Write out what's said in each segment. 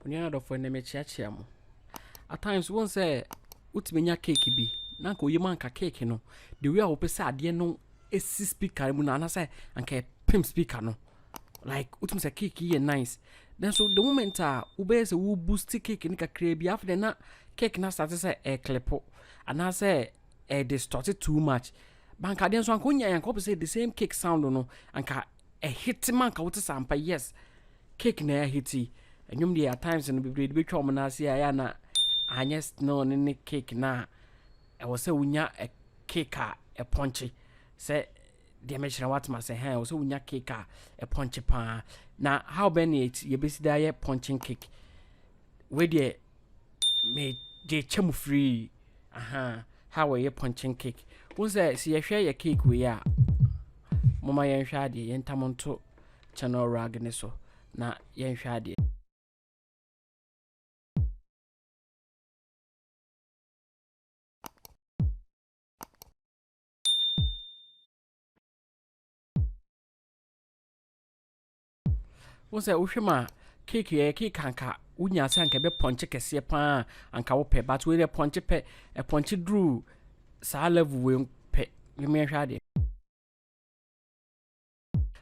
Onua no adɔfoɔ ɛnɛ mekyeakyea mo. At times wohu sɛ wotumi nya cake bi na anka oyam anka cake no the way a wopɛ sɛ adeɛ no si speaker no mu no anaasɛ anka ɛpem speaker no like wotumi sɛ cake yi yɛ nice nanso the moment a wobɛyɛ sɛ wo boost cake no kakraa bi afei deɛ na cake no asate sɛ ɛreklepo anaasɛ ɛde stɔte too much banka adeɛ nso anka wonya anka wopɛ sɛ the same cake sound no anka ɛhete ma anka wote sɛ ampa yes Cake na yɛahiti. Nnwom deɛ at times no bebree de bɛtwa wɔn nan ase a ɛyɛ a na anyɛ still no ne cake no a ɛwɔ sɛ wonya cake a ɛpɔnkye sɛ deɛ mɛkyerɛ woatem ase hɛn ɛwɔ sɛ wonya cake a ɛpɔnkye paa na how bɛn na yɛbɛsi de ayɛ pɔnkyen cake wei deɛ me deɛ kyɛ mu firii aha how wɔyɛ pɔnkyen cake wo sɛ sɛ yɛhwɛ yɛ cake wei a moma yɛnhwɛ adeɛ yɛntam nto Channel rag no so na yɛnhwɛ adeɛ. Wo sɛ wohwɛ mu a cake yɛ cake anka wonya sɛ anka ɛbɛ pɔnkye kɛseɛ paa anka wopɛ but wei deɛ pɔnkye pɛ ɛpɔnkye duru saa level wei pɛ yɛmɛ hwɛ adeɛ.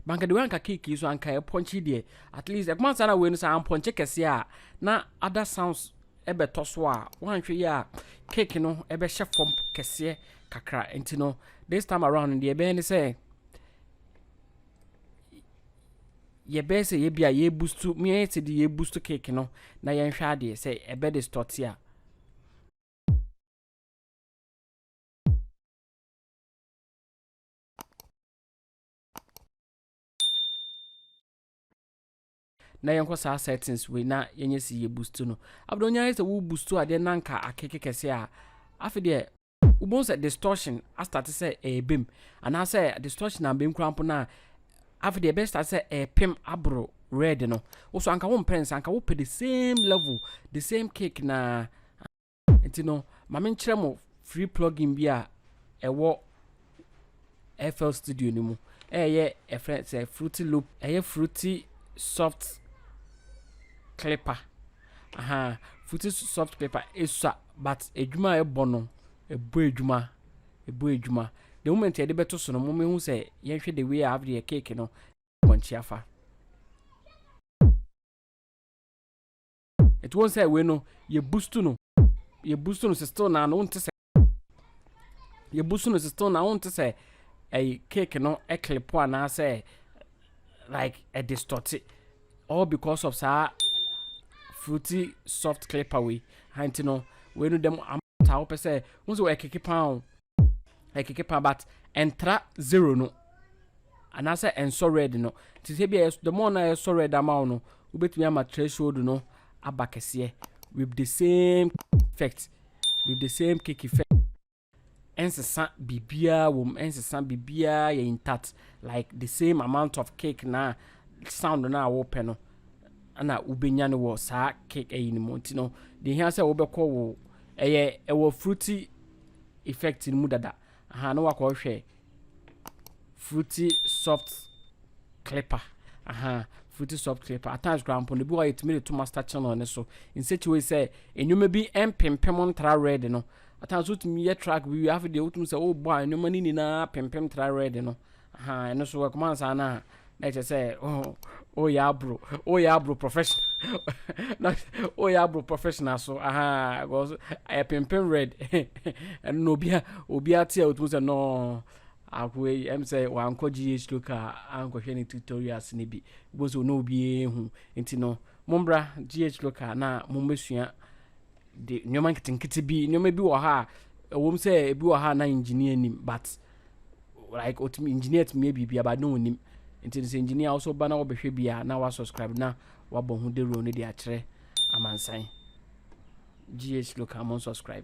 Banka de wei anka cake yi so anka ɛpɔnkye yi deɛ at least ɛkuma nsa na wei no sɛ ampɔnkye kɛseɛ a na ada sounds ɛbɛtɔ so a woanhwɛ yi a cake no ɛbɛhyɛ fam kɛseɛ kakra nti no this time around no deɛ ɛbɛyɛ ne sɛ yɛbɛyɛ sɛ yɛbi a yɛbustu meɛ te de yɛbustu cake no na yɛnhwɛ adeɛ sɛ ɛbɛ de stɔte a na yɛnkɔ saa settings wei na yɛnyɛ si yɛ boost no abdɔ nya yɛ sɛ wo boost adeɛ na nka akeke kɛse a afe deɛ wobɛhu sɛ distortion astate sɛ ɛrebɛm anaasɛ distortion a mbɛm kura mpo no a afe deɛ ɛbɛstate sɛ ɛrepem aboro red no wo so anka wo mpɛ nsa anka wopɛ the same level the same cake na Nti no, ma me nkyerɛ mo free plugin bi a ɛwɔ FL Studio no mu. Ɛyɛ ɛfrɛ sɛ Fruity Loop, ɛyɛ Fruity Soft Clipper. Aha, Fruity Soft Clipper esua but adwuma a ɛbɔ no, ɛbɔ adwuma, ɛbɔ adwuma. The moment yɛde bɛto so no, mo mehu sɛ yɛnhwɛ the way a after yɛ cake no, wɔnkyi afa. Nti wohu sɛ wei no yɛ boost no yɛ boost no still na no nte sɛ yɛ boost no still na wonte sɛ ɛyi cake no clip anaasɛ like a distort all because of saa fruity soft clipper wei nti no wei no dɛm ta wo pɛ sɛ wo sɛ ɛkeke paa o ɛkeke paa but ɛntra zero no anaasɛ ɛnsɔ red no nti sɛ bia the more na ɛsɔ red ama wo no wobɛtumi ama threshold no aba kɛseɛ with the same effect with the same cake effect ɛnsesa biribiara wɔ mu ɛnsesa biribiara yɛ intact like the same amount of cake na sound no a wopɛ no na wobɛnya no wɔ saa cake ayi no mu nti no deɛ hia sɛ wobɛkɔ wo ɛyɛ ɛwɔ fruity effect no mu dada aha na wakɔhwɛ fruity soft clipper aha fruity soft clipper at times koraa mpo no bi wɔ yɛtumi de to master channel no so in such a way sɛ nneɛma bi mpempem ntra red no at times wotumi yɛ track bi wie afei deɛ wotumi sɛ wobɔ a nneɛma no nyinaa pempem tra red no aha ɛno so ɛkɔma nsa no a na ɛkyerɛ sɛ woyɛ aboro woyɛ aboro professional na woyɛ aboro professional so aha because ɛyɛ pimpin red ɛno na obi a obi ate a otum sɛ no ako yi ɛm sɛ wankɔ gh local ankɔhwɛ ne tutorials ne bi gbɔ so na obi ehu nti no mombra gh local na mombɛsua de nneɛma nketenkete bi nneɛma bi wɔ ha a ɛwom sɛ ebi wɔ ha a na engineer nim but like otumi engineer tumi yɛ biribi aba na onim nti sɛ engineer also ba na wɔbɛhwɛ bi a na wa subscribe na wabɔ ho dawuro no de akyerɛ amansan gh local mo subscribe.